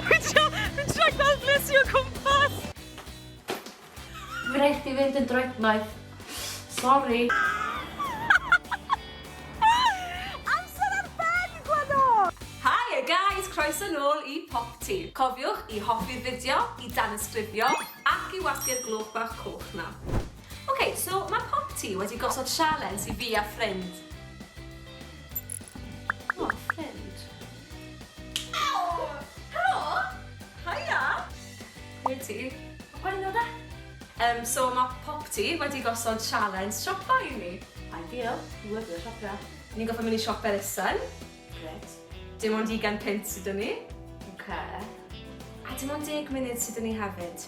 Fi'n trio, fi'n trio gweld ble ti o cwmpas! Mae'n rhaid chdi fynd yn droednoeth. Sori. Amser ar ben, Gwladdo! Haia guys, croeso nôl i Popty. Cofiwch i hoffi'r fideo, i danysgrifio ac i wasgu'r glwb bach coch 'na. Ok, so mae Popty wedi gosod sialens i fi a ffrind. O, ffrind. Helo! Haia! Ble ti? Pa gweinidog de? Yym so ma' Popty wedi gosod sialens siopa i ni. Ideal! Dwi'n lyfio siopio. Ni'n gorffod mynd i siop elusen. Grêt. Dim ond ugain punt sy 'da ni. Oce. A dim ond deg munud sy 'da ni hefyd.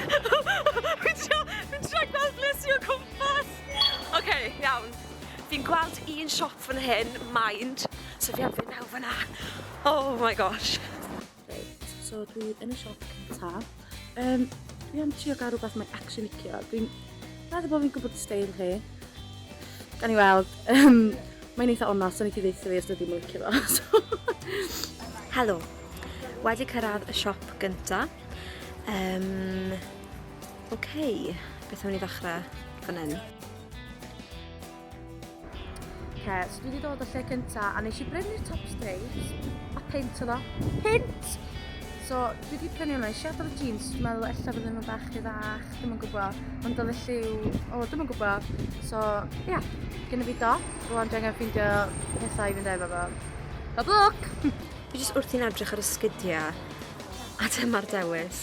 Fi'n trio, fi'n trio gweld ble sy o cwmpas! Ok, iawn. Fi'n gweld un siop fan hyn, mind, so fi am fynd mewn fan'na. Oh my gosh. Reit, so dwi yn y siop cynta. Um, dwi am trio gael rhywbeth mae'n actually licio. Dwi'n meddwl bod fi'n gwybod y steil chi. Gan i weld, um, mae'n eitha onast, so ni ti ddeitha fi os dwi'n mwyn licio fo. Helo, wedi cyrraedd y siop gyntaf. Um, Oce, okay. beth am ni ddechrau fan hyn? Oce, so dwi wedi dod o lle cynta a nes i brynu'r top stripes a pint o ddo. Pint! So, dwi wedi prynu hwnna, eisiau adael y jeans, dwi'n meddwl ella fydden nhw'n bach rhy fach, ddim yn gwybod, ond oedd y lliw, o, ddim yn gwybod. So, ia, yeah, gen i fi do, rwan dwi angen ffeindio pethau i fynd efo fo. Hop look! Fi jyst wrthi'n edrych ar y sgidiau. A dyma'r dewis.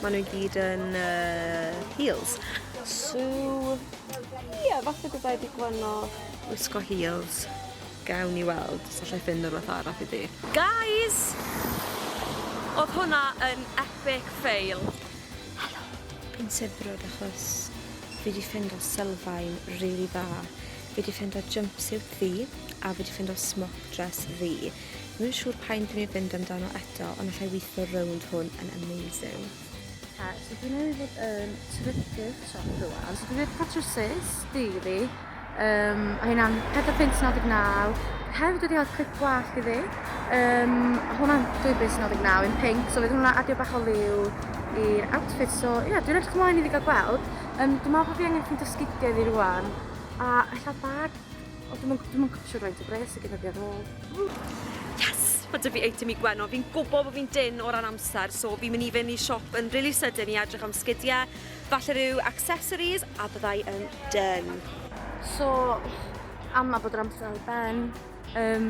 Maen nhw i gyd yn uh, heels. So, ie, yeah, falle byddai wedi gwyno wisgo heels. Gawn i weld, os allai ffind o'r fath arall i ddi. Guys! Oedd hwnna yn epic fail. Helo, fi'n sibrwd achos fi wedi ffind o sylfaen rili really dda. Fi wedi ffind o jumpsuit ddi a fi wedi ffind o smock dress ddi. Dwi'm yn siŵr pa un dwi'n mynd i fynd amdano eto, ond allai weithio rownd hwn yn amazing. Oce, so dwi newydd fod yn trydydd siop rwan. So dwi wedi cael trwsus, diri, um, a hynna'n 4.99. Hefyd wedi cael clip gwallt iddi. Um, a hwnna'n 2.99 yn pink, so fydd hwnna adio bach o liw i'r outfit. So ie, yeah, dwi'n edrych ymlaen iddi gael gweld. Um, dwi'n meddwl bod fi angen ffeindio sgidiau fi rwan. A ella bag Ond dwi'm yn gw- dwi'm yn gwbod faint o bres sy gynna fi ar ôl. Yes! Ma' 'dy fi eitem i Gwenno. Fi'n gwbo bo' fi'n dynn o ran amser so fi'n myn' i fyn' i siop yn rili sydyn i edrych am sgidie, falle ryw accessories a byddai yn dynn. So, ama bod yr amser ar ben, yym.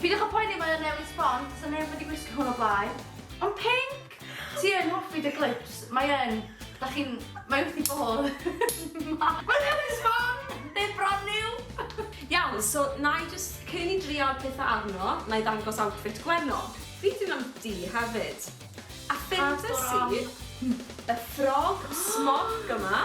Peidiwch a poeni mae o'n newid sbon, does 'na neb wedi gwisgo hwn o blaen. Ond pinc! Ti yn hoffi dy glips, mae yn, da chi'n, mae wrth i bodd. Mae newid sbon! They're brand new! Iawn, so na i jyst, cyn i ni drial petha arno, na i ddangos outfit Gwenno. Beth yw am du hefyd? A ffeindes i y ffrog smock yma.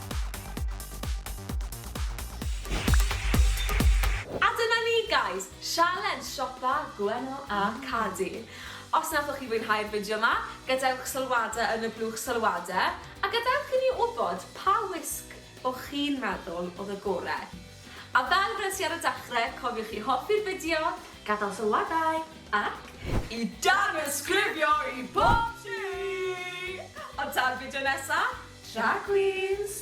A dyna ni guys, sialens siopa Gwenno a Cadi. Os nathoch chi fwynhau'r fideo yma, gadewch sylwade yn y blwch sylwade, a gadewch i ni wybod pa wisg o'ch chi'n meddwl oedd y gore. A fel weles i ar y dechre, cofiwch i hoffi'r fideo, gadael sylwadau, Ac i danysgrifio i bob tŷ! Ond tan fideo nesa, drag queens!